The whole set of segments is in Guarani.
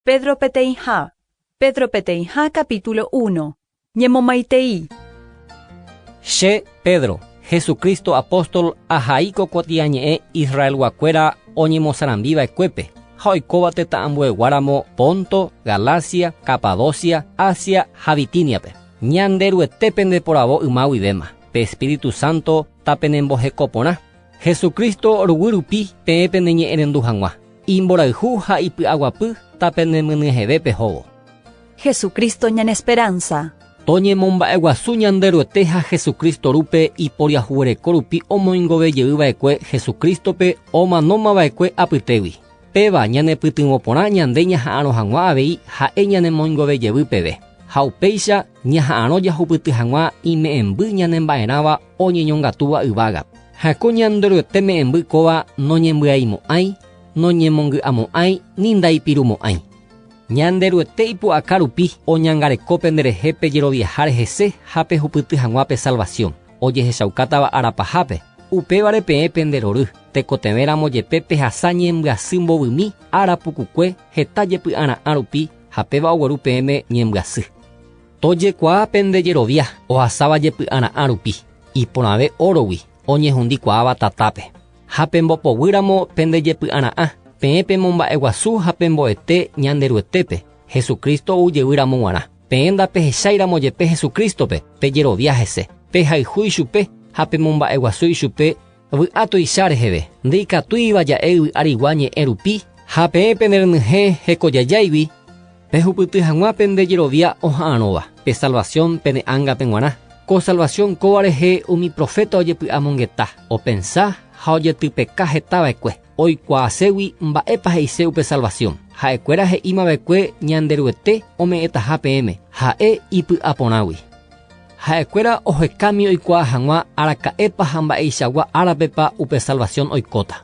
Pedro peteĩha Pedro peteĩha capítulo uno Ñemomaitei. Che, Pedro, Jesucristo apóstol ahai ko kuatiañe'ẽ Israelguakuéra oñemosarambiva'ekuépe ha oikóva tetãambueguáramo Ponto, Galacia, Capadocia, Asia ha Bitíniape. Ñanderuete pendeporavo yma guivéma, pe Espíritu Santo tapenembohekoporã, Jesucristo ruguy rupi peẽ peneñe'ẽrendu hag̃ua. Imborayhu ha ipy'aguapy tape nemynyeheve pehóvo. Jesucristo ñane esperanza. Toñemomba'eguasu Ñanderuete ha Jesucristo rúpe iporiahuvereko rupi omoingove jey vaekue Jesucristo-pe omanóma vaekue apytégui. Péva ñanepytyvõ porã ñande ñaha'arõ hag̃ua avei ha'e ñanemoingove jevy peve, ha upéicha ñaha'arõ jahupyty hag̃ua ime'ẽmby ñanemba'erãva oñeñongatúva yvágape. Ha ko Ñanderuete me'ẽmby kóva noñembyaimo'ãi, noñemongy'amo'ãi ni ndaipirumo'ãi. Ñanderuete ipu'aka rupi oñangareko penderehe pe jeroviaháre hese ha pehupyty hag̃ua pe salvasiõ, ojehechaukátava ára pahápe, upévare peẽ pende rory, tekotevẽ ramo jepe pehasa ñembyasy mbovymi ára pukukue heta jepy'ara'ã rupi ha péva ogueru peẽme ñembyasy. Tojekuaa pende jerovia ohasáva jepy'ara'ã rupi, iporãve órogui oñehundi kuaáva tatápe. Ha pembopoguýramo pende jepy'ara'ã, peẽ pemomba'eguasu ha pembo'ete Ñanderuetépe, Jesucristo ou jevy ramo g̃uarã. Peẽ ndapehecháiramo jepe Jesucristo-pe, pejerovia hese, pehayhu ichupe ha pemomba'eguasu ichupe, Vy'a tuicha reheve, ndeikatúiva ja'e yvy arigua ñe'ẽ rupi, ha peẽ pene renyhẽ hekojajáigui, pehupyty hag̃ua pende jerovia oha'arõva, pe salvasión pene ángape g̃uarã. Ko salvasión kóva rehe umi proféta ojepy'amongeta, opensa ha ojetypeka heta va'ekue, oikuaaségui mba'épa he'ise upe salvasión. Ha'ekuéra he'íma va'ekue Ñanderuete ome'ẽtaha peẽme, ha'e ipy'aporãgui. Ha'ekuéra ohekami oikuaa hag̃ua araka'épa ha mba'eichagua árapepa upe salvasión oikóta.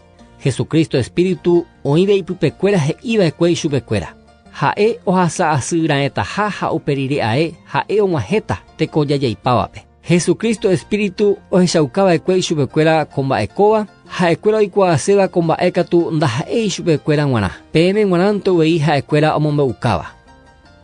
Jesucristo espíritu oĩve ipypekuéra he'iva'ekue ichupekuéra. Ha'e ohasa asy raẽtaha ha upe rire ae ha'e og̃uahẽta teko jajaipávape. Jesucristo espíritu ohechaukava'ekue ichupekuéra ko mba'e kóva, ha'ekuéra oikuaaséva ko mba'e katu ndaha'éi chupekuéra g̃uarã, peẽme g̃uarãnte uvei ha'ekuéra omombe'ukáva.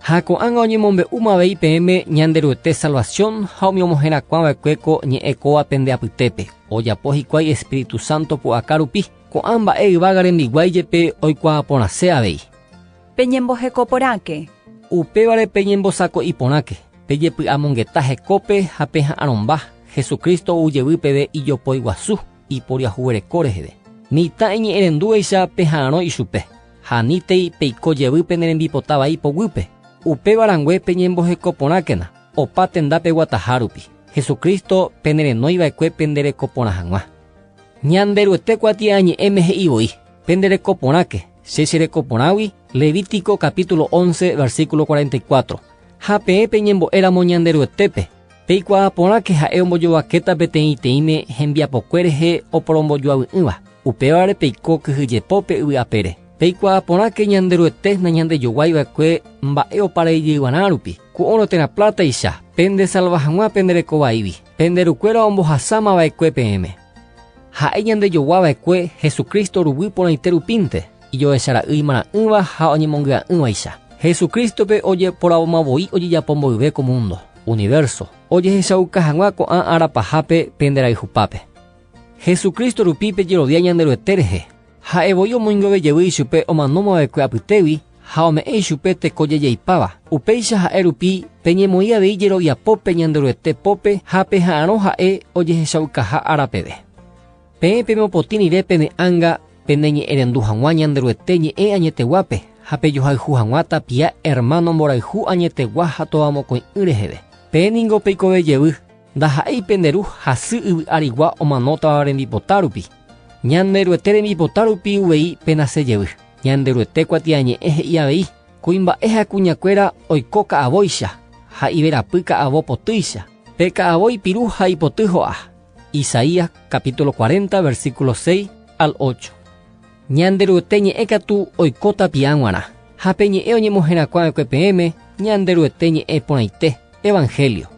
Ha ko'ág̃a oñemombe'úma avei peẽme Ñanderuete salvasión ha umi omoherakuã va'ekue ko ñe'ẽ kóva pende apytépe, ojapo hikuái espíritu sánto pu'aka rupi, ko'ã mba'e yvága rembiguái jepe oikuaa porãse avei. Peñemboheko porãke. Upévare peñembosako'i porãke, pejepy'amongeta hekópe ha peha'arõmba, Jesucristo ou jevy peve ijopói guasu. iporiahuvereko reheve. Mitã eñe'ẽrendúvaicha peha'arõ ichupe, ha nítei peiko jevy pene rembipota vai poguýpe. Upéva rangue peñemboheko porãkena, opa tenda peguataha rupi, Jesucristo pene renói va'ekue pende reko porã hag̃ua. Ñanderuete kuatia añe'ẽme he'i voi, Pende reko porãke, che che reko porãgui, Levítico capítulo once, versículo cuarenta y cuatro. Ha peẽ peñembo'e ramo Ñanderuetépe, Peikuaa porãke ha'e ombojovakéta peteĩteĩme hembiapokue rehe oporombojoavy'ỹva, upévare peiko kyhyjepópe yvy apére. Peikuaa porãke Ñanderuete nañandejoguái va'ekue mba'e opareijeývarã rupi, ku óro térã plátaicha, pendesalva hag̃ua pendereko vaígui, pende rukuéra ombohasáma va'ekue peẽme. Ha'e ñandejogua va'ekue Jesucristo ruguy porãite rupínte, ijohecha ra'y imarã'ỹva ha oñemongy'a'ỹvaicha. Jesucristo-pe ojeporavomavoi ojejapo mboyve ko múndo. Universo. Ojehechauka hag̃ua ko'ã ára pahápe pende rayhupápe. Jesucristo rupi pejerovia Ñanderuete rehe. Ha'e voi omoingove jevy ichupe omano movekue apytégui ha ome'ẽ ichupe teko jejeipáva. Upéicha ha'e rupi peñemoĩ avei jerovia pópe Ñanderuete pópe ha peha'arõ ha'e ojehechaukaha ára peve. Peẽ pemopotĩ rire pene ánga peneñe'ẽrendu hag̃ua Ñanderuete ñe'ẽ añeteguápe ha pejohayhu hag̃ua tapia ermáno mborayhu añetegua ha tovamokõi'ỹ reheve. Peẽ ningo peikove jevy, ndaha'éi pende ru ha sy yvy arigua omanótava rembipota rupi. Ñanderuete rembipota rupi uvei penase jevy. Ñanderuete kuatiañe'ẽ he'i avei, Kuimba'e ha kuñakuéra oiko ka'avóicha ha iverapy ka'avo potýicha, pe ka'avo ipiru ha ipoty ho'a. Isaías capítulo 40 versículo 6 al 8. Ñanderuete ñe'ẽ katu oiko tapiaã g̃uarã, ha pe ñe'ẽ oñemoherakuã va'ekue peẽme Ñanderuete ñe'ẽ porãite, evangelio.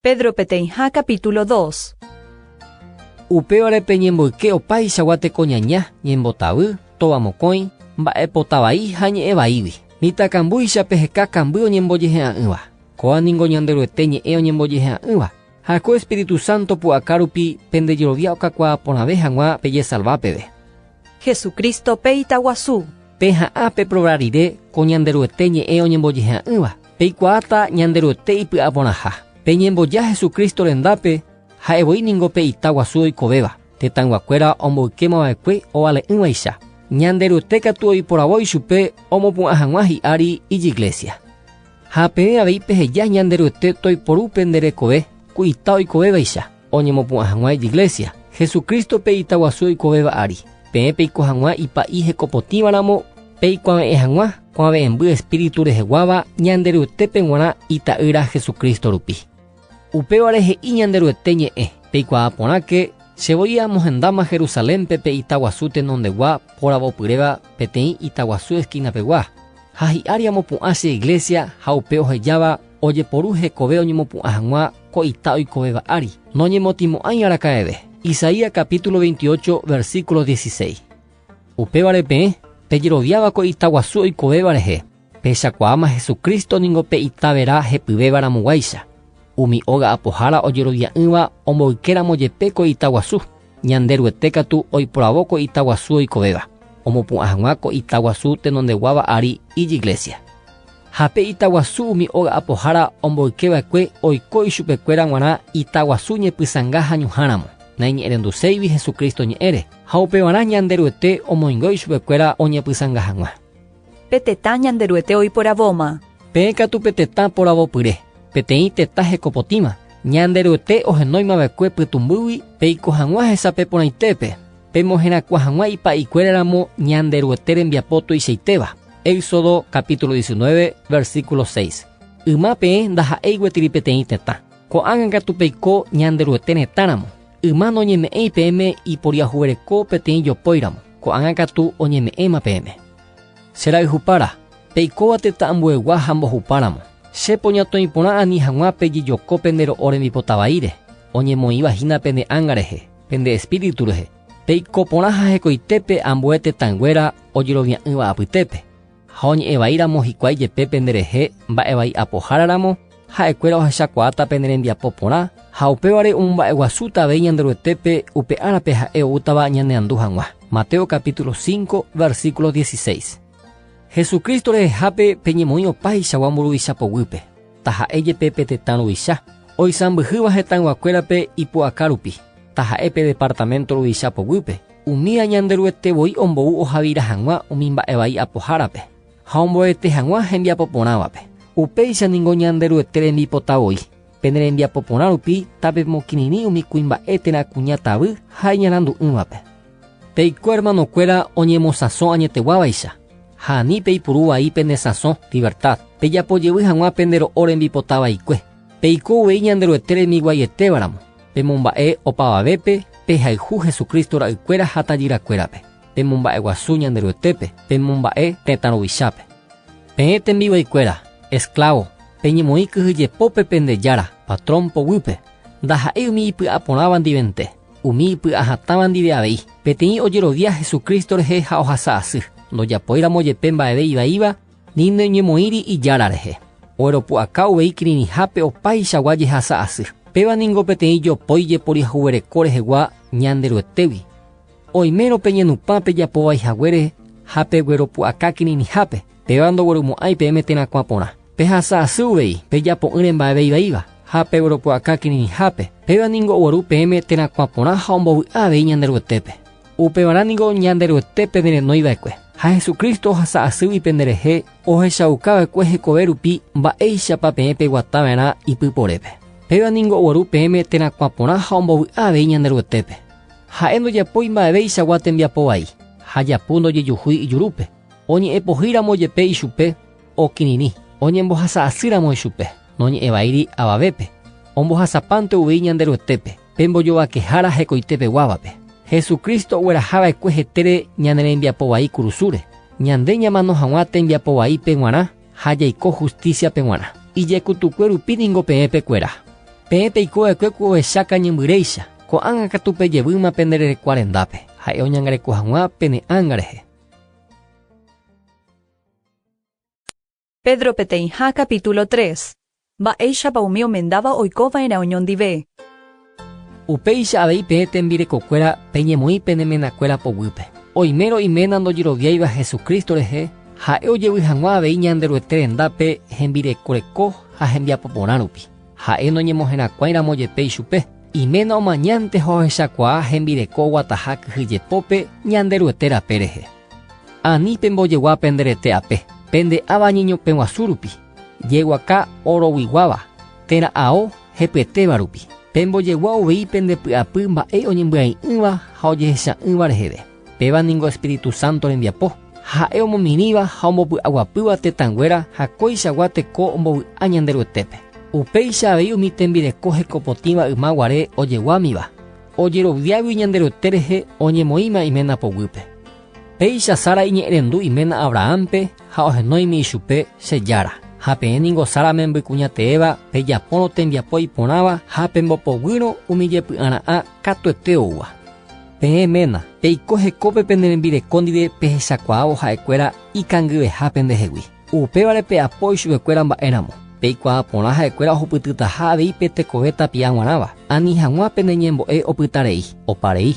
Pedro peteĩha capítulo dos. Upévare peñemboyke opaichagua tekoñaña, ñembotavy, tóva mokõi, mba'epota vai ha ñe'ẽ vaígui. Mitãkambúicha peheka kamby oñembojehe'a'ỹva. Kóva ningo Ñanderuete ñe'ẽ oñembojehe'a'ỹva. Ha ko Espíritu Santo pu'aka rupi pende jerovia okakuaa porãve hag̃ua pejesalva peve. Jesucristo pe itaguasu. Peha'ã peprova rire ko Ñanderuete ñe'ẽ oñembojehe'a'ỹva. Peikuaáta Ñanderuete ipy'aporãha. Peñemboja Jesucristo rendápe, ha'e voi ningo pe ita guasu oikovéva, tetãyguakuéra omboykéma va'ekue ovale'ỹvaicha. Ñanderuete katu oiporavo ichupe omopu'ã hag̃ua hi'ári Ijiglésia. Ha peẽ avei peheja Ñanderuete toiporu pende rekove ku ita oikovévaicha. Oñemopu'ã hag̃ua ijiglésia, Jesucrístope ita guasu oikovéva ári. Peẽ peiko hag̃ua ipa'i hekopotĩva ramo, peikuave'ẽ hag̃ua kuave'ẽmby Espíritu reheguáva Ñanderuetépe g̃uarã Ita'ýra Jesucristo rupi. Upévare he'i Ñanderuete ñe'ẽ, Peikuaa porãke, che voi amohendáma Jerusalénpe pe ita guasu tenondegua poravopyréva peteĩ ita guasu eskinapegua, ha hi'ári amopu'ã che iglésia ha upe ohejáva ojeporu hekove oñemopu'ã hag̃ua ko ita oikovéva ári, noñemotĩmo'ãi araka'eve. Isaías capítulo 28, versículo 16. Upévare peẽ pejeroviáva ko ita guasu oikovéva rehe, pehechakuaáma Jesucristo ningo pe Itavera hepyvéva ramoguáicha, umi óga apohára ojerovia'ỹva omboykéramo jepe ko ita guasu. Ñanderuete katu oiporavo ko ita guasu oikovéva, omopu'ã hag̃ua ko ita guasu tenondeguáva ári ijiglésia. Ha pe ita guasu umi óga apohára omboyke va'ekue oiko ichupekuéra g̃uarã ita guasu ñepysãnga ha ñuhãramo, naiñe'ẽrenduséivi Jesucristo ñe'ẽre, ha upevarã Ñanderuete omoingo ichupekuéra oñepysãnga hag̃ua. Pe tetã Ñanderuete oiporavóma. Peẽ katu pe tetã poravopyre, peteĩ tetã hekopotĩva. Ñanderuete ohenóima va'ekue pytũmbýgui peiko hag̃ua hesape porãitépe, pemoherakuã hag̃ua ipa'ikuéra ramo Ñanderuete rembiapo tuichaitéva. Éxodo capítulo diecinueve, versículo seis. Yma peẽ ndaha'éi gueteri peteĩ tetã. Ko'ág̃a katu peiko Ñanderuete retã ramo. Yma noñeme'ẽi peẽme iporiahuvereko peteĩ jopóiramo, ko'ág̃a katu oñeme'ẽma peẽme. Che rayhupára, peikóva tetã ambuegua ha mbohupáramo, che poñatõi porã ani hag̃ua pejejoko pende ro'o rembipota vaíre, oñemoĩva hína pene ánga rehe, pende espíritu rehe, peiko porã ha hekoitépe ambue tetãnguéra ojerovia'ỹva apytépe. Ha oñe'ẽ vai ramo hikuái jepe pende rehe mba'e vai apohára ramo, ha'ekuéra ohechakuaáta pene rembiapo porã, ha upévare omomba'eguasúta avei Ñanderuetépe upe árape ha'e oútava ñaneandu hag̃ua. Mateo capítulo 5, versículo 16. Jesucristo rehehápe peñemoĩ opaichagua mburuvicha poguýpe, taha'e jepe pe tetã ruvicha, oisãmbyhýva hetãyguakuérape ipu'aka rupi, taha'e pe departamento ruvicha poguýpe, Umi añanderuete voi ombou ohavira hag̃ua umi mba'e vai apohárape ha omboete hag̃ua hembiapo porãvape. Upéicha ningo Ñanderuete rembipota voi. Pene rembiapo porã rupi tapemokirirĩ umi kuimba'e térã kuña tavy ha iñarandu'ỹvape. Peiko ermanokuéra oñemosãso añeteguávaicha, ha ani peipuru vai pende sãso, livertad, pejapo jevy hag̃ua pende ro'o rembipota vaikue. Peiko uvei Ñanderuete remiguaietévaramo. Pemomba'e opavavépe pehayhu Jesucristo ra'ykuéra ha tajyrakuérape, pemomba'eguasu Ñanderuetépe, pemomba'e tetã ruvichápe. Peẽ tembivaikuéra, esclavo, peñemoĩ kyhyjepópe pende jára, patrón, poguýpe, ndaha'éi umi ipy'aporãva ndivente, umi ipy'ahatãva ndive avei, peteĩ ojerovia Jesucristo rehe ha ohasa asy, ndojapoíramojepe mba'eve ivaíva, Ni noñemoĩri Ijára rehe. Ogueropu'aka uvei kirirĩhápe opaichagua jehasa asy. Péva ningo peteĩ jopói jeporiahuvereko rehegua Ñanderuetégui. Oimérõ pe ñenupã pejapo vai haguére ha pegueropu'aka kirirĩhápe, péva ndogueromo'ãi peẽme térã kuã porã. Pehasa asy uvei pejapo'ỹre mba'eve ivaíva ha pegueropu'aka kirirĩhápe, péva ningo ogueru peẽme térã kuã porã ha ombovy'a avei Ñanderuetépe. Upevarã niko Ñanderuete penerenói va'ekue, ha Jesucristo ohasa asýgui penderehe ohechauka va'ekue hekove rupi mba'éichapa peẽ peguata va'erã ipyporépe. Péva niko ogueru peẽme térã kuã porã ha ombovy'a avei Ñanderuetépe. Ha'e ndojapói mba'eveichagua tembiapo vai, ha japu ndojejuhúi ijurúpe. Oñe'ẽ pohýi ramo jepe ichupe, okirirĩ. Oñembohasa asy ramo ichupe, noñe'ẽ vaíri avavépe, ombohasapánte uvei Ñanderuetépe. Pembojovakehára hekoite peguávape. Jesucristo ogueraha va'ekue hetére ñane rembiapo vai kurusúre, ñande ñamano hag̃ua tembiapo vai pe g̃uarã ha jaiko hustísia pe g̃uarã. Ijekutukue rupi ningo peẽ pe kuera. Peẽ peiko va'ekue ku ohecha kañymbyréicha, ko'ág̃a katu pe jevýma pende rerekua rendápe, ha'e oñangareko hag̃ua pene ánga rehe. Pedro peteĩha capítulo tres. Mba'éichapa umi omendáva oikova'erã oñondive. Upéicha avei peẽ tembirekokuéra peñemoĩ pene menakuéra poguýpe. Oimérõ iména ndojeroviáiva Jesucristo rehe, Ha'e ojevy hag̃ua avei Ñanderuete rendápe hembireko reko ha hembiapo porã rupi. Ha'e noñemoherakuãi ramo jepe ichupe, iména omañánte ha ohechakuaa hembireko oguataha kyhyjepópe Ñanderuete rape rehe. Ani pembojegua pende rete ape, pende ava ñeñope guasu rupi, jeguaka oroguiguáva, térã ao hepyetéva rupi. Pembojegua uvei pende py'apy mba'e oñembyai'ỹva ha ojehecha'ỹva reheve. Péva ningo Espíritu Santo rembiapo, ha ha'e omomirĩva ha ombopy'aguapýva tetãnguéra ha kóichagua teko ombovy'a Ñanderuetépe. Upéicha avei umi tembireko hekopotĩva yma guare ojeguámiva. Ojeroviágui Ñanderuete rehe oñemoĩma iména poguýpe. Péicha Sara iñe'ẽrendu iména Abrahánpe ha ohenóimi ichupe, Che jára. Ha peẽ ningo Sara membykuñateéva pejapórõ tembiapo iporãva ha pembopoguýrõ umi jepy'ara'ã katuete oúva. Peẽ ména, peiko hekópe pene rembireko ndive pehechakuaávo ha'ekuéra ikangyveha pendehegui. Upévare pe'apói chupekuéra mba'éramo, peikuaa porã ha'ekuéra ohupytytaha avei pe tekove tapia g̃uarãva, ani hag̃ua pene ñembo'e opyta rei, opa rei.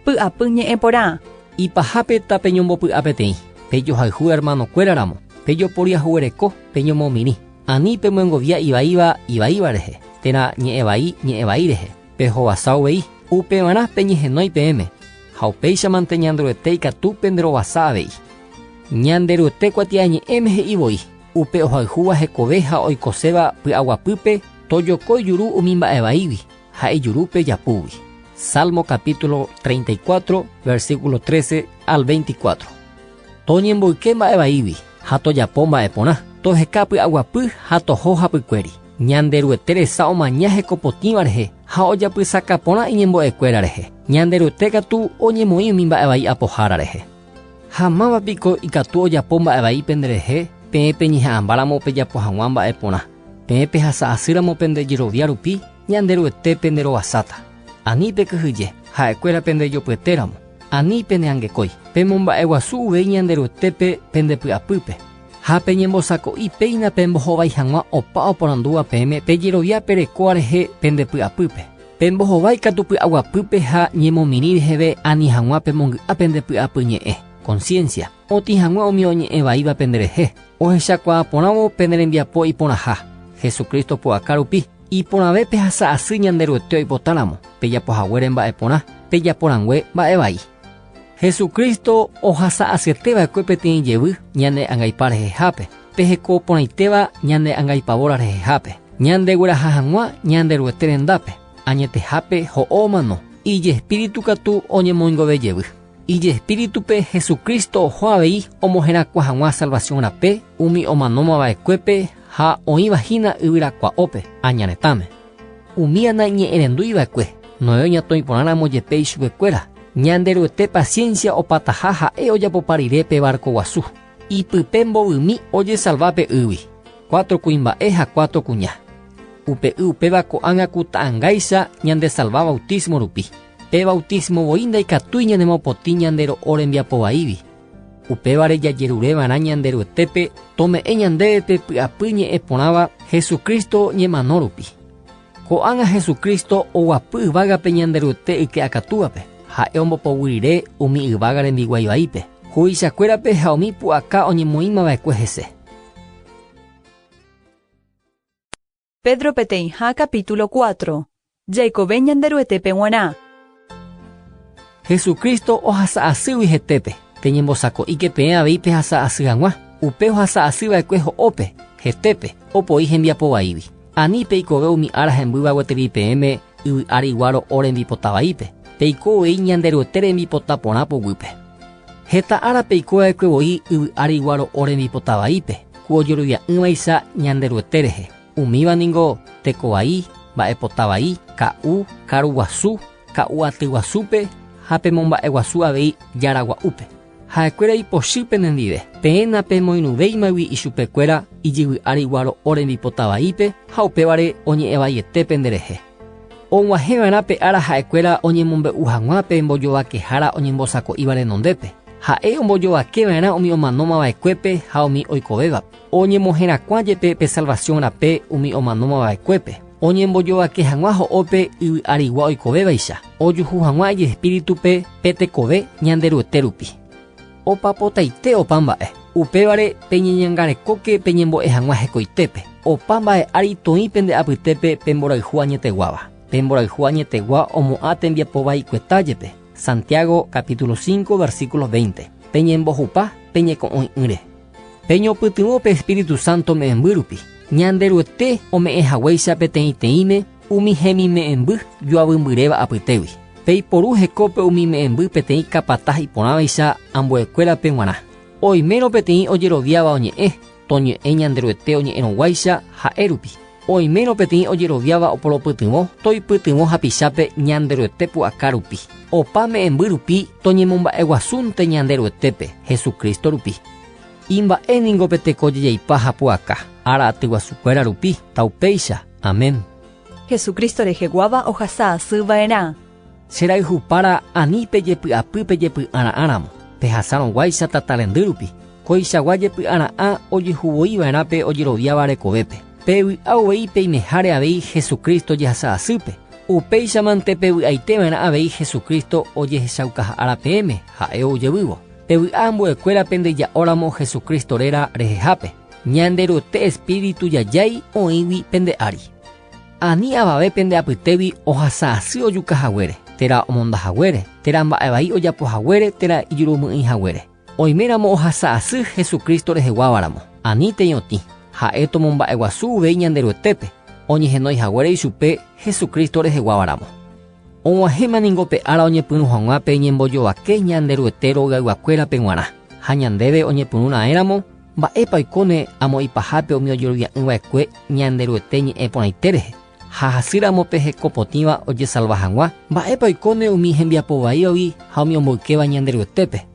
Py'apy ñe'ẽ porã. Ipahápe ta peñombopy'a peteĩ, pejohayhu hermanokuéra ramo, pejoporiahuvereko, peñomomirĩ, ani pemyengovia ivaíva ivaíva rehe, térã ñe'ẽ vai ñe'ẽ vai rehe. pehovasa uvei, upevarã peñehenói peẽme, ha upéichamante Ñanderuete ikatu penderovasa avei. Ñanderuete kuatiañe'ẽme he'i voi, Upe ohayhúva hekove ha oikoséva py'aguapýpe tojoko ijuru umi mba'e vaígui ha ijurúpe japúgui. Salmo capítulo 34, versículo 13 al 24. Toñemboyke mba'e vaígui ha tojapo mba'e porã. Toheka py'aguapy ha toho hapykuéri. Ñanderuete resa omaña heko potĩva rehe ha ojapysaka porã iñembo'ekuéra rehe. Ñanderuete katu oñemoĩ umi mba'e vai apohára rehe. Ha máva piko ikatu ojapo mba'e vai penderehe peẽ peñeha'ãmbáramo pejapo hag̃ua mba'e porã. Peẽ pehasa asýramo pende jerovia rupi, Ñanderuete penderovasáta. Ani pekyhyje, ha'ekuéra pendejopyetéramo, ani peneangekói. Pemomba'eguasu uvei Ñanderuetépe pende py'apýpe, ha peñembosako'i péina pembohovái hag̃ua opa oporandúva peẽme pe jerovia pe rekóa rehe pende py'apýpe. Pembohovái katu py'aguapýpe ha ñemomirĩ reheve ani hag̃ua pemongy'a pende py'apyñe'ẽ, konsiénsia, otĩ hague umi oñe'ẽ vaíva penderehe, ohechakuaa porãvo pende rembiapo iporãha, Jesucristo pu'aka rupi. Iporãve pehasa asy Ñanderuete oipotáramo pejapo haguére mba'e porã, pejapo rangue mba'e vai. Jesucristo ohasa asyete va'ekue peteĩ jevy ñane angaipa rehehápe, peheko porãitéva ñane angaipavóra rehehápe, ñande gueraha hag̃ua Ñanderuete rendápe, añetehápe ho'o omano, ijespíritu katu oñemoingove jevy. Ijespíritupe Jesucristo oho avei omoherakuã hag̃ua salvasión rape umi omanóma va'ekuépe ha oĩva hína yvyrakua'ópe aña retãme. Umi ana iñe'ẽrendúi va'ekue Noé oñatõi porã ramo jepe ichupe kuéra, Ñanderuete paciencia opataha ha'e ojapopa rire pe barco guasu, ipype mbovymi ojesalva pe ýgui, cuatro kuimba'e ha cuatro kuña. Upe y upéva ko'ág̃a ku ta'ãngáicha ñandesalva bautismo rupi. Pe bautísmo voi ndaikatúi ñanemopotĩ ñande ro'o rembiapo vaígui. Upévare jajerure va'erã Ñanderuetépe tome'ẽ ñandéve pe py'apy ñe'ẽ porãva Jesucristo ñemano rupi. Ko'ág̃a Jesucristo oguapy yvágape Ñanderuete yke'akatúvape, ha'e ombopoguy rire umi yvága rembiguái vaípe, huvichakuérape ha umi pu'aka oñemoĩmava'ekue hese. Pedro peteĩha capítulo cuatro. Jaikove Ñanderuetépe g̃uarã. Jesucristo ohasa asýgui hetépe, peñembosako'íke peẽ avei pehasa asy hag̃ua, upe ohasa asy va'ekue ho'ópe, hetépe, opoi hembiapo vaígui. Ani peikove umi ára hembýva gueteri peẽme, Yvy ári ygua ro'o rembipota vaípe, peiko voi Ñanderuete rembipota porã poguýpe. Heta ára peiko va'ekue voi yvy ári ygua ro'o rembipota vaípe ku ojerovia'ỹvaicha Ñanderuete rehe, umíva ningo teko vai, mba'epota vai, ka'u, karu guasu, ka'u aty guasúpe ha pe momba'e guasu avei jára gua'úpe. Ha'ekuéra ipochy penendive, peẽ napemoirũvéimagui ichupekuéra ijyvy ári guaro'o rembipota vaípe ha upévare oñe'ẽ vaiete penderehe. Og̃uahẽva'erã pe ára ha'ekuéra oñemombe'u hag̃ua pe mbojovakehára oñembosako'íva renondépe, ha'e ombojovakeva'erã umi omanómava'ekuépe ha umi oikovévape, oñemoherakuã jepe pe salvasión rape umi omanómava'ekuépe. Oñembojovake hag̃ua ho'ópe yvy arigua oikovévaicha, ojuhu hag̃ua ijespíritupe pe tekove Ñanderuete rupi. Opapotaite opa mba'e. Upévare peñeñangarekóke peñembo'e hag̃ua hekoitépe. Opa mba'e ári toĩ pende apytépe pe mborayhu añeteguáva. Pe mborayhu añetegua omo'ã tembiapo vaikueta jepe. Santiago capítulo 5 versículo 20. Peñembohupa peñeko'õi'ỹre. Peñopytyvõ pe Espíritu Santo me'ẽmbýrupi, Ñanderuete ome'ẽ haguéicha peteĩteĩme umi hemime'ẽmby joavymbyréva apytégui. Peiporu hekópe umi me'ẽmby peteĩ capataz iporãvaicha ambuekuérape g̃uarã. Oimérõ peteĩ ojeroviáva oñe'ẽ, toñe'ẽ Ñanderuete oñe'ẽrõguáicha ha'érupi. Oimérõ peteĩ ojeroviáva oporopytyvõ, toipytyvõ hapichápe Ñanderuete pu'aka rupi. Opa me'ẽmby rupi toñemomba'eguasúnte Ñanderuetépe, Jesucristo rupi. Imba'e ningo pe teko jejaipa ha pu'aka, ára atyguasukuéra rupi, ta upéicha. Amén. Jesucristo reheguáva ohasa asy va'erã. Che rayhupára ani pejepy'apy pejepy'ara'ã ramo, pehasárõguáicha tata rendy rupi, koichagua jepy'ara'ã ojehuvoi va'erã pe ojeroviáva rekovépe. Pevy'a uvei peimeháre avei Jesucristo jehasa asýpe, upéichamante pevy'aite va'erã avei Jesucristo ojehechaukaha ára peẽme ha'e ou jevývo. Pevy'a ambuekuéra pende ja'óramo Jesucristo réra rehehápe, Ñanderuete Espíritu jajái oĩgui pende ári. Ani avave pende apytégui ohasa asy ojuka haguére, térã omonda haguére, térã mba'e vai ojapo haguére, térã ijurumy'ỹi haguére. Oiméramo ohasa asy Jesucristo reheguávaramo, ani teñotĩ, ha'e tomomba'eguasu uvei Ñanderuetépe, oñehenói haguére ichupe Jesucristo reheguávaramo. Og̃uahẽma ningo pe ára oñepyrũ hag̃ua pe ñembojovake Ñanderuete ro'yayguakuérape g̃uarã, ha ñandéve oñepyrũ raẽramo, Mba'épa oikóne amo ipahápe umi ojerovia'ỹ va'ekue Ñanderuete ñe'ẽ porãite rehe, ha hasy ramo pe heko potĩva ojesalva hag̃ua? Mba'épa oikóne umi hembiapo vaívagui ha umi omboykéva Ñanderuetépe?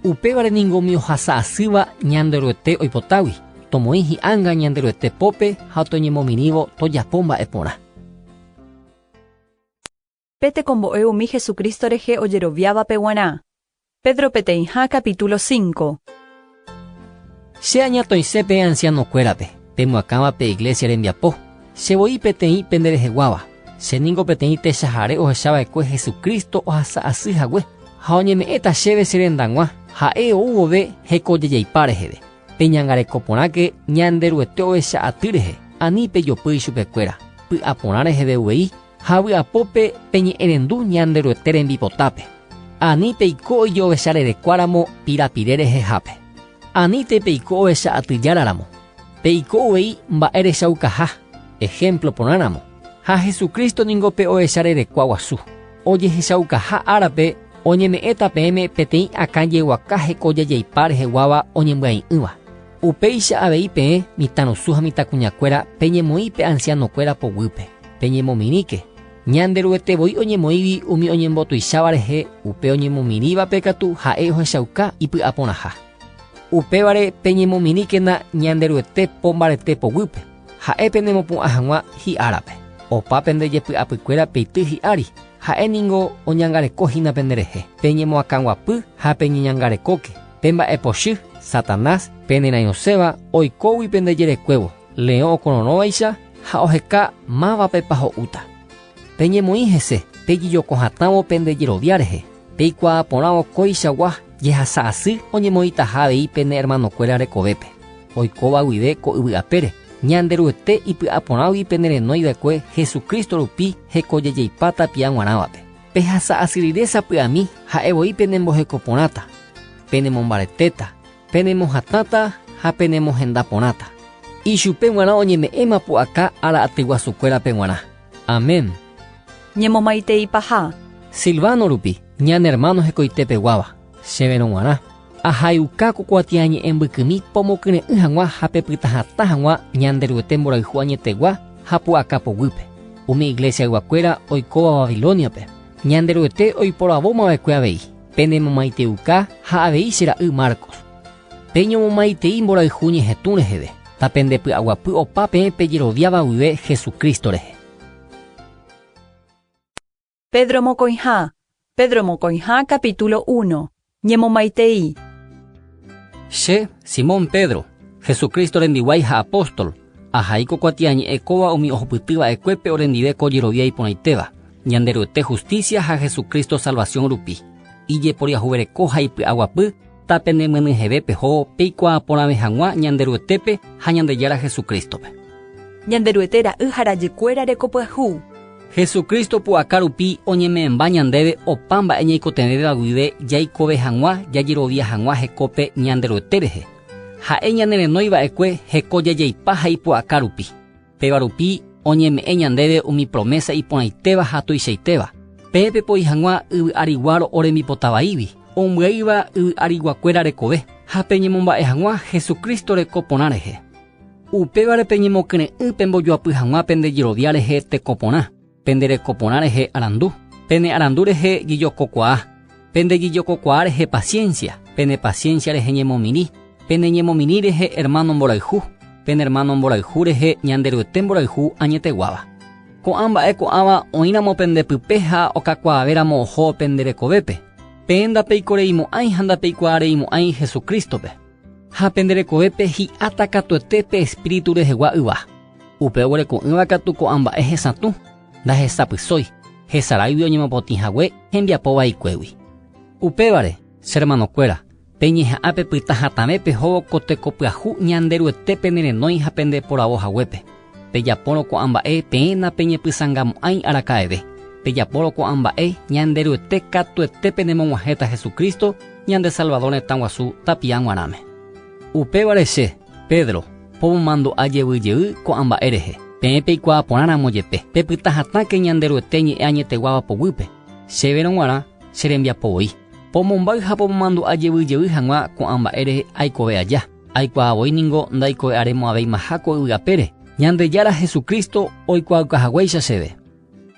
Upévare ningo umi ohasa asýva Ñanderuete oipotágui, tomoĩ hi'anga Ñanderuete pópe ha toñemomirĩvo tojapo mba'e porã. Pe tekombo'e umi Jesucristo rehe ojeroviávape guarã. Pedro peteĩha capítulo 5. Che añatõise pe ancianokuérape, pemoakãva pe iglesia rembiapo, che voi peteĩ pende reheguáva. Che ningo peteĩ techahare ohechava'ekue Jesucristo ohasa asy hague, ha oñeme'ẽta chéve che rendag̃ua, ha'e ou vove hekojejeipa reheve. Peñangareko porãke Ñanderuete ovecha aty rehe, ani pejopy ichupekuéra, py'aporã reheve uvei, Ha vy'apópe peñe'ẽrendu Ñanderuete rembipotápe, ani peiko ijovecharerekuáramo pirapire rehehápe. Aníntei peiko ovecha atyjáraramo, peiko uvei mba'e rechaukaha, ehémplo porãramo. Ha Jesucristo ningo pe ovecharerekua guasu. Ojehechaukaha árape oñeme'ẽta peẽme peteĩ akãjeguaka hekojejeipá reheguáva oñembyai'ỹva. Upéicha avei peẽ mitãrusu ha mitãkuñakuéra peñemoĩ pe ansianokuéra poguýpe, peñemomirĩke. Ñanderuete voi oñemoĩgui umi oñembotuicháva rehe, upe oñemomirĩvape katu ha'e ohechauka ipy'aporãha. Upévare peñemomirĩkena Ñanderuete po mbarete poguýpe, ha'e penemopu'ã hag̃ua hi'árape. Opa pende jepy'apykuéra peity hi'ári, ha'e ningo oñangareko hína penderehe. Peñemoakãguapy ha peñeñangarekóke. Pe mba'epochy, Satanás, pe nerãirõséva, oikógui pende jerekuévo, leõ okororõvaicha ha oheka mávapepa ho'úta. Peñemoĩ hese, pejejoko hatãvo pende jerovia rehe, peikuaa porãvo kóichagua jehasa asy oñemoĩtaha avei pene ermanokuéra rekovépe, oikóva guive ko yvy apére, Ñanderuete ipy'aporãgui pene renói va'ekue Jesucristo rupi hekojejeipáta pia g̃uarãvape. Pehasa asyrire sapy'ami ha'e voi penemboheko porãta, penemombaretéta, penemohatãta ha penemohenda porãta. Ichupe g̃uarã oñeme'ẽma pu'aka ára atyguasukuérape g̃uarã. Amén. Ñemomaitei paha. Silvano rupi, ñane ermáno hekoite peguáva, chéverõ g̃uarã. Ahayhuka ko kuatiañe'ẽ mbykymi pomokyre'ỹ hag̃ua ha pepyta hatã hag̃ua Ñanderuete mborayhu añetegua ha pu'aka poguýpe, umi iglesia yvakuéra oikóva Babilóniape. Ñanderuete oiporavóma va'ekue avei, pene momaiteuka ha avei che ra'y Marcos. Peñomomaitei mborayhu ñehetũ reheve, ta pende py'aguapy opa peẽ pejeroviáva guive Jesucristo rehe. Pedro mokõiha Pedro mokõiha capítulo uno Ñemomaitei. Che, Simón Pedro, Jesucristo rembiguái ha apóstol, ahai ko kuatiañe'ẽ kóva umi ohupyty va'ekuépe orendive ko jerovia iporãitéva, Ñanderuete hustísia ha Jesucristo salvación rupi, ijeporiahuvereko ha ipy'aguapy, Tapenemyenyheve peho peikuaa porãve hag̃ua Ñanderuetépe ha Ñandejára Jesucristo-pe. Ñanderuete ra'y ha rajykuéra reko pyahu. Jesucristo pu'aka rupi oñeme'ẽmba ñandéve opa mba'e ñaikotevẽvéva guive jaikove hag̃ua jajerovia hag̃ua hekope Ñanderuete rehe. Ha'e ñanerenói va'ekue heko jajaipa ha ipu'aka rupi. Péva rupi oñeme'ẽ ñandéve umi promésa iporãitéva ha tuichaitéva. Peẽ pepoi hag̃ua yvy ári guáro orembipota vaígui, ombyaíva yvy ariguakuéra rekove, ha peñemomba'e hag̃ua Jesucristo reko porã rehe. Upévare peñemokyre'ỹ pembojoapy hag̃ua pende jerovia rehe teko porã. pende reko porã rehe arandu, pene arandu rehe jijokokuaa, pende jijokokuaa rehe paciencia, pene paciencia rehe ñemomirĩ, pene ñemomirĩ rehe hermano mborayhu, pene hermano mborayhu rehe Ñanderuete mborayhu añeteguáva. Ko'ã mba'e ko'ãva oĩramo pende pype ha okakuaavéramo oho pende rekovépe, peẽ ndapeikoreimo'ãi ha ndapeikuaareimo'ãi Jesucristo-pe. Ha pende rekovépe hi'áta katuete pe Espíritu rehegua yva. Upe oguereko'ỹva katu ko'ã mba'e hesatũ, ndahesapysói, hesaráigui oñemopotĩ hague hembiapo vaikuégui. Upévare, che hermanokuéra, peñeha'ã pepyta hatãve pehóvo ko teko pyahu Ñanderuete penerenói ha pende poravo haguépe. Pejapórõ ko'ã mba'e peẽ napeñepysangamo'ãi araka'eve. Pejapórõ ko'ã mba'e, Ñanderuete katuete penemog̃uahẽta Jesucristo, ñande Salvador retãguasu tapiã g̃uarãme. Upévare che, Pedro, pomomandu'a jevy jey ko'ã mba'e rehe, peẽ peikuaa porã ramo jepe, pepyta hatãke Ñanderuete ñe'ẽ añeteguáva poguýpe, chéverõ g̃uarã che rembiapo voi. Pomombáy ha pomomandu'a jevy jey hag̃ua ko'ã mba'e rehe aikove aja, aikuaa voi ningo ndaikove'arémo'ãvéimaha ko yvy apére, Ñandejára Jesucristo oikuaauka haguéicha chéve.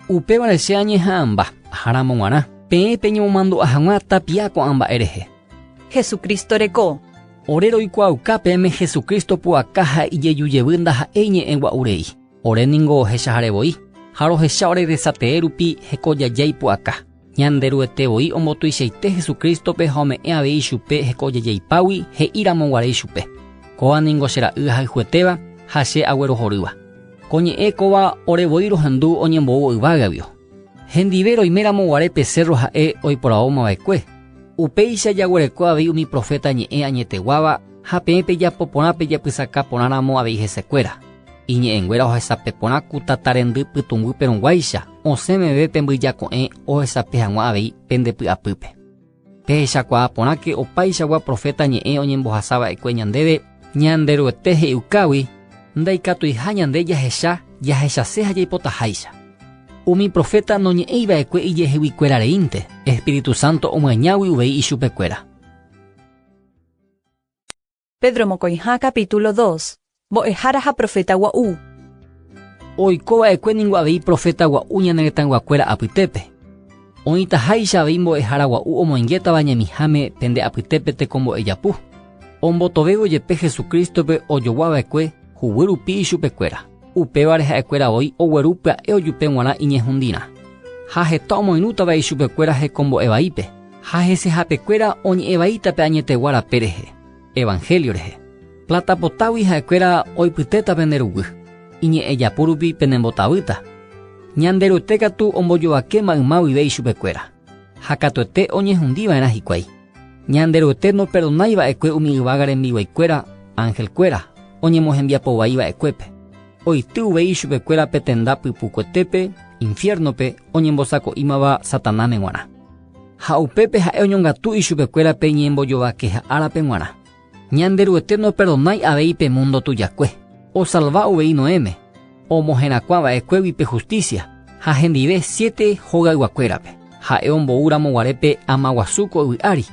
Upévare che añeha'ãmba aháramo g̃uarã, peẽ peñemomandu'a hag̃ua tapia ko'ã mba'e rehe. Hesu Crísto reko. Ore roikuaauka peẽme Hesu Crísto pu'aka ha ijeju jevy ndaha'éi ñe'ẽ gua'urei. Ore ningo ohechahare voi, ha rohecha oregresatee rupi heko jajái pu'aka. Ñanderuete voi ombotuichaite Jesucristo-pe ha ome'ẽ avei chupe heko ojejeipágui, he'íramo guare ichupe, Kóva ningo che Ra'y ahayhuetéva ha che aguerohorýva. Ko ñe'ẽ kóva ore voi rohendu oñembou yvágavio. Hendive roiméramo guare pe sérro ha'e oiporavóma va'ekue, upéicha jaguereko avei umi proféta ñe'ẽ añeteguáva ha peẽ pejapo porã pejapysaka porãramo avei hesekuéra. Iñe'ẽnguéra ohesape porã ku tata rendy pytũnguýpe rõguáicha, osẽ meve pe mbyjako'ẽ ohesape hag̃ua avei pende py'apýpe. Pehechakuaa porãke opaichagua proféta ñe'ẽ oñembohasa va'ekue ñandéve, Ñanderuete he'iukágui ndaikatuiha ñande jahecha jahechase ha jaipotaháicha. Umi proféta noñe'ẽi va'ekue ijeheguykuéra reínte, espíritu sánto omyañágui uvei ichupekuéra. Pedro mokõiha capítulo 2. Mbo'ehára ha profeta gua'u. Oikova'ekue ningo avei profeta gua'u ñane retãyguakuéra apytépe. Oĩtaháicha avei mbo'ehára gua'u omoingétava ñemiháme pende apytépe tekombo'e japu, ombotovévo jepe Jesucrístope ojoguava'ekue huguy rupi ichupekuéra. Upévare ha'ekuéra voi ogueru pya'e ojupe g̃uarã iñehundirã. Ha heta omoirũta vai chupekuéra hekombo'e vaípe, ha hese hapekuéra oñe'ẽ vaíta pe añetegua rape rehe, Evangelio rehe. Plata potágui ha'ekuéra oipytéta pende ruguy, iñe'ẽjapu rupi penembotabýta. Ñanderuete katu ombojovakéma yma guive ichupekuéra. ha katuete oñehundiva'erã hikuái. Ñanderuete noperdonái va'ekue umi yvága rembiguaikuéra angelkuéra oñemohembiapo vai va'ekuépe. Oity uvei chupekuéra pe tenda pypukuetépe, infiérnope, oñembosako'ímava Satanáme g̃uarã. Ha upépe ha'e oñongatu ichupekuéra pe ñembojovakeha árape g̃uarã. Ñanderuete noperdonái avei pe múndo tujakue. Osalva uvei Noéme, omoherakuã va'ekuégui pe hustísia ha hendive siete hogayguakuérape. Ha'e omboúramo guare pe ama guasu ko yvy ári,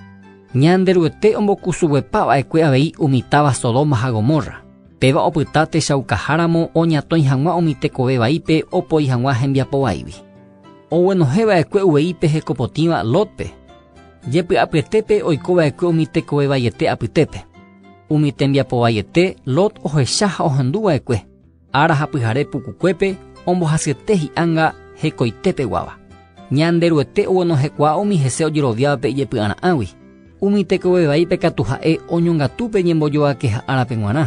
Ñanderuete ombokusuguepa va'ekue avei umi táva Sodoma ha Gomorra. Péva opyta techaukaháramo oñatõi hag̃ua umi tekove vaípe opoi hag̃ua hembiapo vaígui. Oguenohẽ va'ekue uvei pe hekopotĩva Lótpe. Jepy'apyetépe oiko va'ekue umi tekove vaiete apytépe. Umi tembiapo vaiete Lot ohecha ha ohendu va'ekue, ára ha pyhare pukukuépe ombohasyete hi'anga hekoite peguáva. Ñande Ruete oguenohẽkuaa umi hese ojeroviávape ijepy'ara'ãgui. Umi tekove vaípe katu ha'e oñongatu pe ñembojovakeha árape g̃uarã.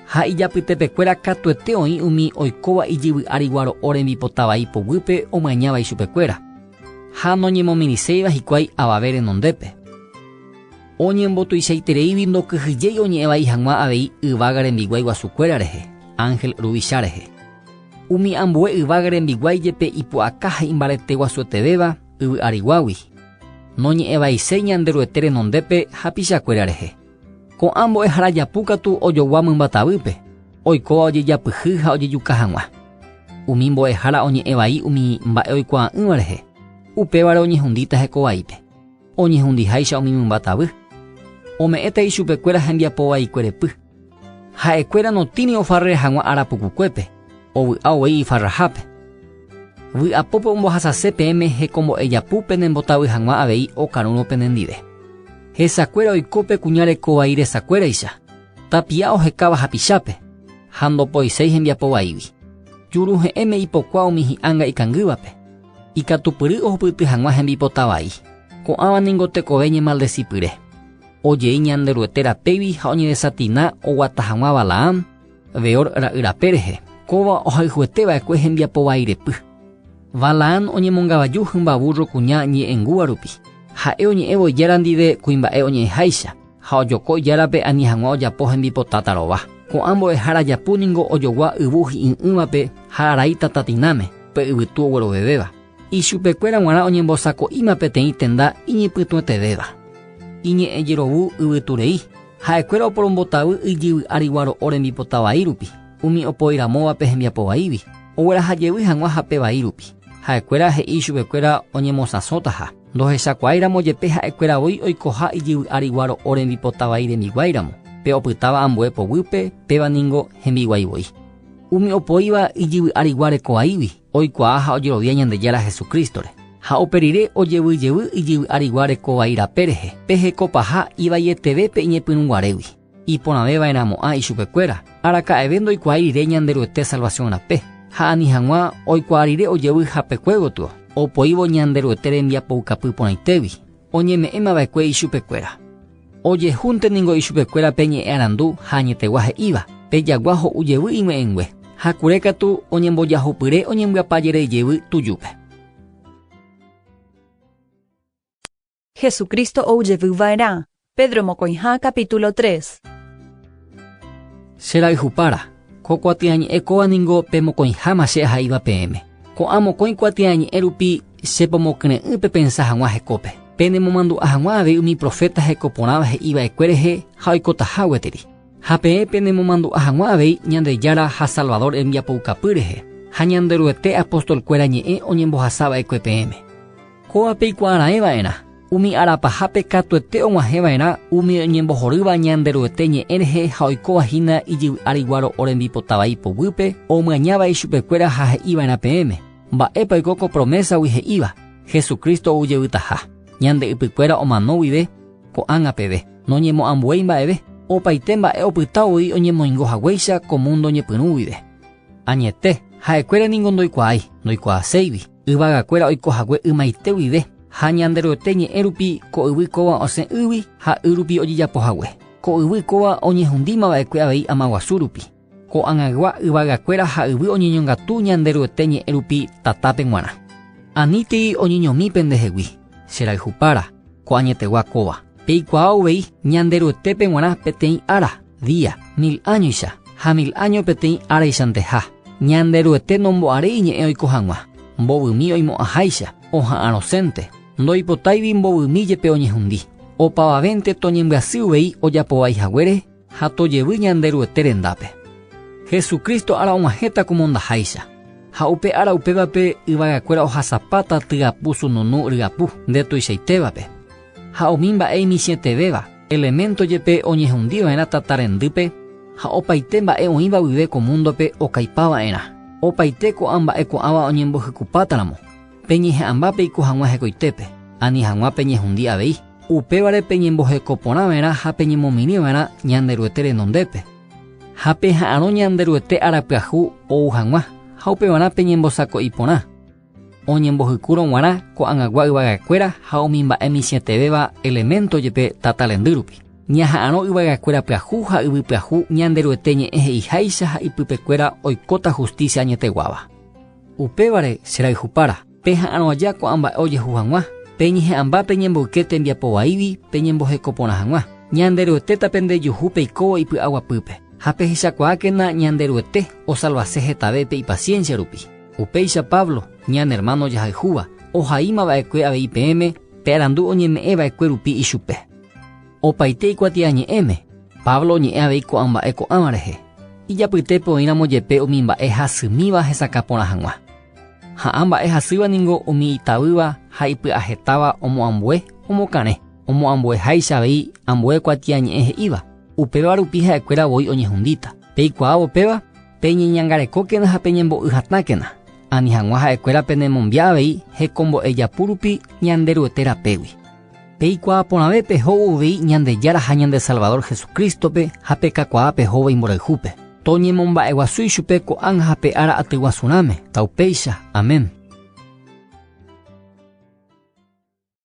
Ha ijapytepekuéra katuete oĩ umi oikóva ijyvy'ári guaro'o rembipota vai poguýpe omañáva ichupekuéra. Ha noñemomirĩséiva hikuái avave renondépe. Oñembotuichaitereígui ndokyhyjéi oñe'ẽ vai hag̃ua avei yvága rembiguái guasukuéra rehe, ánhel ruvicha rehe. Umi ambue yvága rembiguái jepe ipu'aka ha imbarete guasuetevéva yvy ariguágui, noñe'ẽ vaiséi Ñanderuete renondépe hapichakuéra rehe. Ko'ã mbo'ehára japu katu ojogua mymba tavýpe, oikóva ojejapyhy ha ojejuka hag̃ua. Umi mbo'ehára oñe'ẽ vai umi mba'e oikuaa'ỹva rehe, upévare oñehundíta heko vaípe, oñehundiháicha umi mymba tavy. Ome'ẽta ichupekuéra hembiapo vaikuerepy. Ha'ekuéra notĩri ofarre hag̃ua ára pukukuépe. ovy'a ovei ifarrahápe. Vy'apópe ombohasase peẽme hekombo'e japu penembotavy hag̃ua avei okarũrõ penendive. Hesakuéra oiko pe kuña reko vai resakuéraicha, tapi'a ohekáva hapichápe, ha ndopoiséi hembiapo vaígui. Juruhe'ẽme ipokua umi hi'ã nga'ikangývape, ikatupyry ohupyty hag̃ua hembipota vai. Ko'ãva ningo tekove ñemaldesipyre. Ojei Ñanderuete rapégui ha oñedesatina oguata hag̃ua Balaam, Beor ra'y rape rehe. Kóva ohayhuete va'ekue hembiapo vairepy. Balaán oñemongavaju hymba vúrro kuña ñe'ẽngúva rupi. Ha'e oñe'ẽvo ijára ndive kuimba'e oñe'ẽháicha, ha ojoko ijárape ani hag̃ua ojapo hembipota tarova. Ko'ã mbo'ehára japu ningo ojogua yvu hi'ỹ'ỹvape ha araíta tatinãme, pe yvytu oguerovevéva. Ichupekuéra g̃uarã oñembosako'íma peteĩ tenda iñepytuetevéva, iñe'ẽ jerovu yvyturei. Ha'ekuéra oporombotavy ijyvy ári guaro'o rembipota vai rupi, umi opoi ramóvape hembiapo vaígui, ogueraha jevy hag̃ua hape vai rupi. Ha'ekuéra he'i ichupekuéra oñemosãsõtaha, ndohechakuaái ramo jepe ha'ekuéra voi oikoha ijyvy ári guaro'o rembipota vai rembiguái ramo, pe opytáva ambue poguýpe, péva ningo hembiguái voi. Umi opoíva ijyvy ári guare ko vaígui, oikuaa ha ojerovia Ñandejára Jesucristo-re, ha upe rire ojevyjevy ijyvy arigua reko vai rape rehe, peheko paha ivaieteve pe iñepyrũ guarégui, iporãve va'erãmo'ã ichupe kuéra, araka'eve ndoikuaái rire Ñanderuete salvación rape, ha ani hag̃ua oikuaa rire ojevy hapekue gotyo, opoívo Ñanderuete rembiapoukapy porãitégui. oñeme'ẽmava'ekue ichupekuéra. Ojehúnte ningo ichupekuéra pe ñe'ẽ arandu ha añetegua he'íva, Pe jagua ho'u jevy ig̃ue'ẽngue, ha kure katu oñembojahupyre oñembyapa jerei jevy tujúpe. Jesucristo oujevy va'erã. Pedro mokõiha capítulo tres. Che rayhupára, ko kuatiañe'ẽ kóva ningo pe mokõiháma che aha'íva peẽme. Ko'ã mokõi kuatiañe'ẽ rupi che pomokyre'ỹ pepensa hag̃ua hekópe, penemomandu'a hag̃ua avei umi proféta heko porãva he'i va'ekue rehe ha oikotaha gueteri. Ha peẽ penemomandu'a hag̃ua avei Ñandejára ha Salvador rembiapoukapy rehe, ha Ñanderuete apóstol kuéra ñe'ẽ oñembohasa va'ekue peẽme. Kóva peikuaaraẽ va'erã. Umi arapahápe katuete og̃uahẽva'erã umi oñembohorýva Ñanderuete ñe'ẽ rehe ha oikóva hína ijyvy áriGuáro orembipota vai poguýpe, omyaña vai chupekuéra ha he'iva'erã peẽme, Mba'épa oiko ko promésagui he'íva, Jesucristo oujevýtaha, ñande ypykuéra omano guive ko'ág̃a peve, noñemo'ãmbuéi mba'eve, opaite mba'e opyta voi oñemoingo haguéicha ko múndo ñepyrũ guive. Añete, ha'ekuéra ningo ndoikuaái, ndoikuaaséigui. Yvagakuéra oiko hague ymaite guive, ha Ñanderuete ñe'ẽ rupi ko yvy kóva osẽ ýgui ha y rupi ojejapo hague. Ko yvy kóva oñehundíma va'ekue avei ama guasu rupi. Ko'ag̃aygua yvagakuéra ha yvy oñeñongatu Ñanderuete ñe'ẽ rupi tatápe g̃uarã. Anítei oñeñomi pendehegui, che rayhupára, ko añetegua kóva. Peikuaa uvei Ñanderuetépe g̃uarã peteĩ ára, día, mil áñoicha, ha mil áño peteĩ áraichanteiha. Ñanderuete nombo'arei iñe'ẽ oiko hag̃ua, mbovymi oimo'ãháicha, oha'ã rosẽnte, ndoipotáivi mbovymi jepe oñehundi. Opavavénte toñembyasy uvei ojapovai haguére ha tojevy Ñanderuete rendápe. Jesucristo ára og̃uahẽta ko mondaháicha, ha upe ára upévape yvagakuéra ohasapáta tyapu sununu ryapu nde tuichaitévape, ha umi mba'e imitĩetevéva, elemento jepe oñehundi va'erã tata rendýpe ha opaite mba'e oĩva guive ko múndope okaipa va'erã, opaite ko'ã mba'e ko'ãva oñembohykupátaramo. Peñeha'ãmba peiko hag̃ua hekoitépe, ani hag̃ua peñehundi avei. Upévare peñemboheko porã va'erã ha peñemomirĩ va'erã Ñanderuete renondépe, ha peha'arõ Ñanderuete ára pyahu ou hag̃ua, ha upevarã peñembosako'i porã, oñembohykúrõ g̃uarã ko'ag̃agua yvaga'ekuéra ha umi mba'e michĩetevéva elemento jepe tata rendy rupi. Ñaha'arõ yvaga'ekuéra pyahu ha yvy pyahu Ñanderuete ñe'ẽ he'iháicha ha ipypekuéra oikóta hustísia añeteguáva. Upévare, che rayhupára, peha'arõ aja ko'ã mba'e ojehu hag̃ua, peñeha'ãmba pe ñemboyke tembiapo vaígui peñemboheko porã hag̃ua. Ñanderuetéta pende juhu peikóvo ipy'aguapýpe, ha pehechakuaákena Ñanderuete osalvase hetave pe ipasiénsia rupi. Upéicha Pablo, ñane ermáno jahayhúva, ohaíma va'ekue avei peẽme pe arandu oñeme'ẽ va'ekue rupi ichupe. Opaite ikuatiañe'ẽme, Pablo oñe'ẽ avei ko'ã mba'e ko'ãva rehe, ijapytépe oĩramo jepe umi mba'e hasymíva hesakã porã hag̃ua. Ha'ã mba'e hasýva ningo umi itavýva ha ipy'ahetáva omoambue omokarẽ, omoambueháicha avei ambue kuatiañe'ẽ he'íva, upéva rupi ha'ekuéra voi oñehundíta. Peikuaávo péva, peñeñangarekókena ha peñembo'y hatãkena, ani hag̃ua ha'ekuéra penemombi'a avei hekombo'e japu rupi Ñanderuete rapégui. Peikuaa porãve pehóvo avei Ñandejára ha ñande Salvador Jesucristo-pe ha pekakuaa pehóva imborayhúpe. Toñemomba'eguasu ichupe ko'ág̃a ha pe ára atyguasurãme. Taupéicha. Amén.